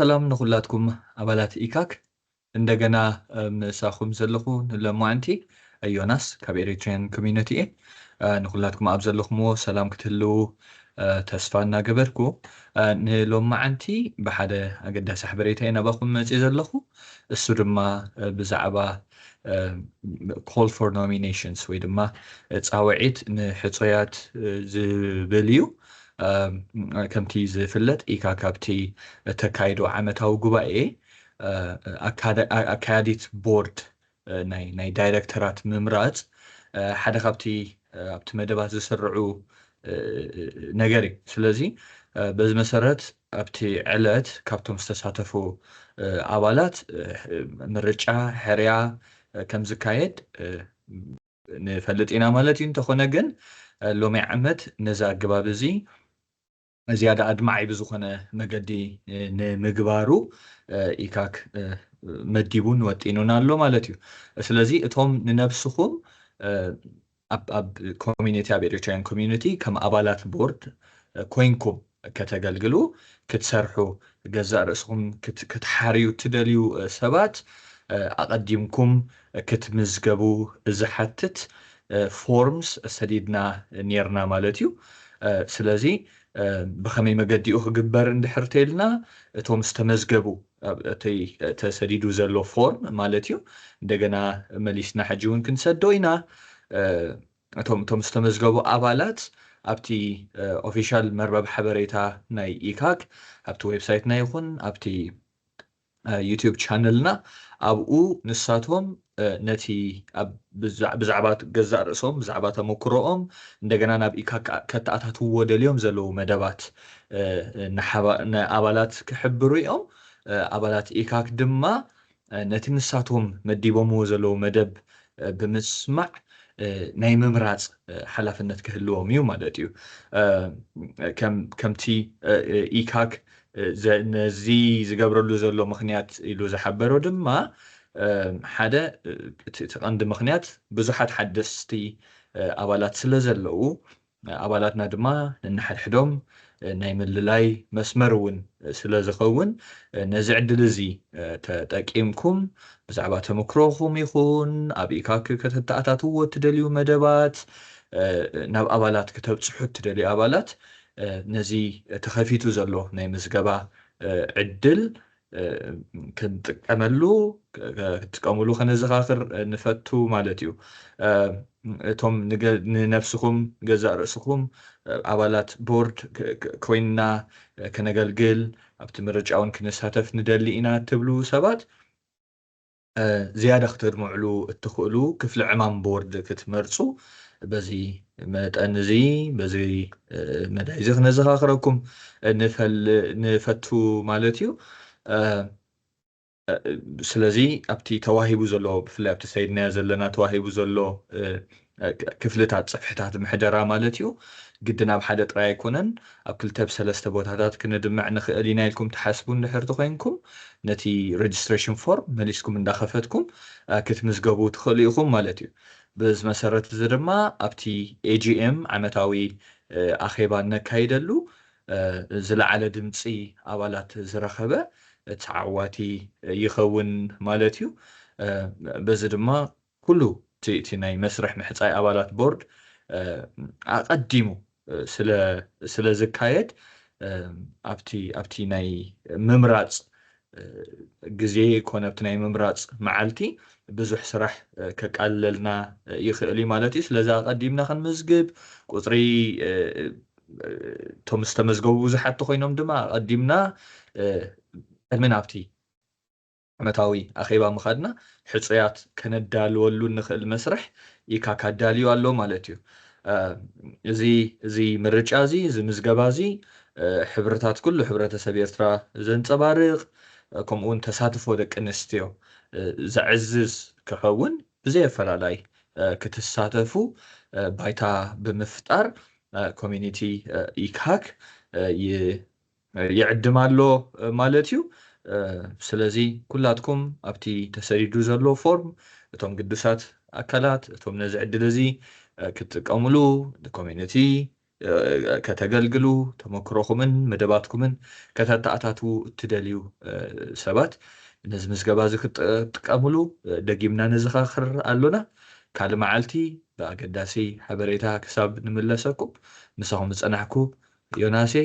ሰላም ንኩላትኩም ኣባላት ኢካክ እንደገና ምሳኩም ዘለኩ ንሎማዕንቲ ዮናስ ካብ ኤሪትሪያን ኮሚነቲ እየ ንኩላትኩም ኣብ ዘለኩምዎ ሰላም ክትህልዉ ተስፋ እናገበርኩ ንሎማዕንቲ ብሓደ ኣገዳሲ ሓበሬታ እየ ናባኩም መጽየ ዘለኩ እሱ ድማ ብዛዕባ ኮል ፎር ኖሚነሽንስ ወይ ድማ ጻውዒት ንሕጹያት ዝብል እዩ ከምቲ ዝፍለጥ ኢካ ካብቲ እተካይዶ ዓመታዊ ጉባኤ ኣካያዲት ቦርድ ናይ ዳይረክተራት ምምራጽ ሓደ ካብቲ ኣብቲ መደባት ዝስርዑ ነገር እዩ። ስለዚ በዚ መሰረት ኣብቲ ዕለት ካብቶም ዝተሳተፉ ኣባላት ምርጫ ሕርያ ከምዝካየድ ንፈልጥ ኢና ማለት እዩ፣ እንተኾነ ግን ሎሚ ዓመት ነዚ ኣገባብ እዚ ዝያዳ ኣድማዒ ብዝኾነ መገዲ ንምግባሩ ኢካክ መዲቡን ወጢኑን ኣሎ ማለት እዩ። ስለዚ እቶም ንነብስኹም ኣብ ኮሚኒቲ ኣብ ኤሪትራውያን ኮሚኒቲ ከም ኣባላት ቦርድ ኮይንኩም ከተገልግሉ ክትሰርሑ ገዛእ ርእስኹም ክትሓርዩ እትደልዩ ሰባት ኣቐዲምኩም ክትምዝገቡ ዝሓትት ፎርምስ ሰዲድና ኔርና ማለት እዩ ስለዚ ብኸመይ መገዲ እዩ ክግበር እንድሕር ተይልና እቶም ዝተመዝገቡ እቲ ተሰዲዱ ዘሎ ፎርም ማለት እዩ እንደገና መሊስና ሕጂ እውን ክንሰዶ ኢና እቶም እቶም ዝተመዝገቡ ኣባላት ኣብቲ ኦፊሻል መርበብ ሓበሬታ ናይ ኢካክ ኣብቲ ዌብሳይትና ይኹን ኣብቲ ዩቲዩብ ቻነልና ኣብኡ ንሳቶም ነቲ ብዛዕባ ገዛእ ርእሶም ብዛዕባ ተመክሮኦም እንደገና ናብ ኢካክ ከተኣታትውዎ ደልዮም ዘለዉ መደባት ንኣባላት ክሕብሩ እዮም ኣባላት ኢካክ ድማ ነቲ ንሳቶም መዲቦምዎ ዘለዉ መደብ ብምስማዕ ናይ ምምራጽ ሓላፍነት ክህልዎም እዩ ማለት እዩ። ከምቲ ኢካክ ነዚ ዝገብረሉ ዘሎ ምኽንያት ኢሉ ዝሓበሮ ድማ ሓደ እቲ ቀንዲ ምኽንያት ብዙሓት ሓደስቲ ኣባላት ስለዘለዉ ኣባላትና ድማ ነንሓድሕዶም ናይ ምልላይ መስመር እውን ስለ ዝኸውን ነዚ ዕድል እዚ ተጠቂምኩም ብዛዕባ ተመክሮኹም ይኹን ኣብ ኢካክ ከተተኣታትዎ እትደልዩ መደባት ናብ ኣባላት ክተብፅሑ እትደልዩ ኣባላት ነዚ ተኸፊቱ ዘሎ ናይ ምዝገባ ዕድል ክንጥቀመሉ ክትጥቀምሉ ከነዘኻኽር ንፈቱ ማለት እዩ እቶም ንነብስኹም ገዛእ ርእስኹም ኣባላት ቦርድ ኮይንና ከነገልግል ኣብቲ ምርጫውን ክንሳተፍ ንደሊ ኢና ትብሉ ሰባት ዝያዳ ክተድምዕሉ እትኽእሉ ክፍሊ ዕማም ቦርድ ክትመርጹ በዚ መጠን እዚ በዚ መዳይ እዚ ክነዘኻኽረኩም ንፈቱ ማለት እዩ። ስለዚ ኣብቲ ተዋሂቡ ዘሎ ብፍላይ ኣብቲ ሰይድናዮ ዘለና ተዋሂቡ ዘሎ ክፍልታት ጽፍሕታት ምሕደራ ማለት እዩ። ግድን ኣብ ሓደ ጥራይ ኣይኮነን፣ ኣብ ክልተ ብ ሰለስተ ቦታታት ክንድምዕ ንኽእል ኢና ኢልኩም ትሓስቡ እንድሕር ተኾይንኩም፣ ነቲ Registration Form መሊስኩም እንዳኸፈትኩም ክትምዝገቡ ትኽእሉ ኢኹም ማለት እዩ። በዚ መሰረት እዚ ድማ ኣብቲ AGM ዓመታዊ ኣኼባ እነካይደሉ ዝለዓለ ድምጺ ኣባላት ዝረኸበ ተዓዋቲ ይኸውን ማለት እዩ። በዚ ድማ ኩሉ እቲ ናይ መስርሕ ምሕጻይ ኣባላት ቦርድ ኣቐዲሙ ስለ ዝካየድ ኣብቲ ናይ ምምራጽ ግዜ ኮነ ኣብቲ ናይ ምምራጽ መዓልቲ ብዙሕ ስራሕ ከቃልለልና ይኽእል'ዩ ማለት እዩ። ስለዚ ኣቐዲምና ክንምዝግብ ቁጽሪ እቶም ዝተመዝገቡ ብዙሓት ተኾይኖም ድማ ኣቐዲምና ቅድሚ ናብቲ ዓመታዊ ኣኼባ ምኻድና ሕጹያት ከነዳልወሉ እንኽእል መስርሕ ኢካክ ኣዳልዩ ኣሎ ማለት እዩ። እዚ እዚ ምርጫ እዚ እዚ ምዝገባ እዚ ሕብርታት ኩሉ ሕብረተሰብ ኤርትራ ዘንጸባርቕ ከምኡውን ተሳትፎ ደቂ ኣንስትዮ ዘዕዝዝ ክኸውን ብዘይ ኣፈላላይ ክትሳተፉ ባይታ ብምፍጣር ኮሚኒቲ ኢካክ ይ ይዕድም ኣሎ ማለት እዩ። ስለዚ ኩላትኩም ኣብቲ ተሰዲዱ ዘሎ ፎርም እቶም ግዱሳት ኣካላት እቶም ነዚ ዕድል እዚ ክትጥቀምሉ ንኮሚኒቲ ከተገልግሉ ተመክሮኹምን መደባትኩምን ከተተኣታትዉ እትደልዩ ሰባት ነዚ ምዝገባ እዚ ክትጥቀምሉ ደጊምና ነዘኻኽር ኣሎና። ካልእ መዓልቲ ብኣገዳሲ ሓበሬታ ክሳብ ንምለሰኩም ምሳኹም ዝጸናሕኩ ዮናስ እየ።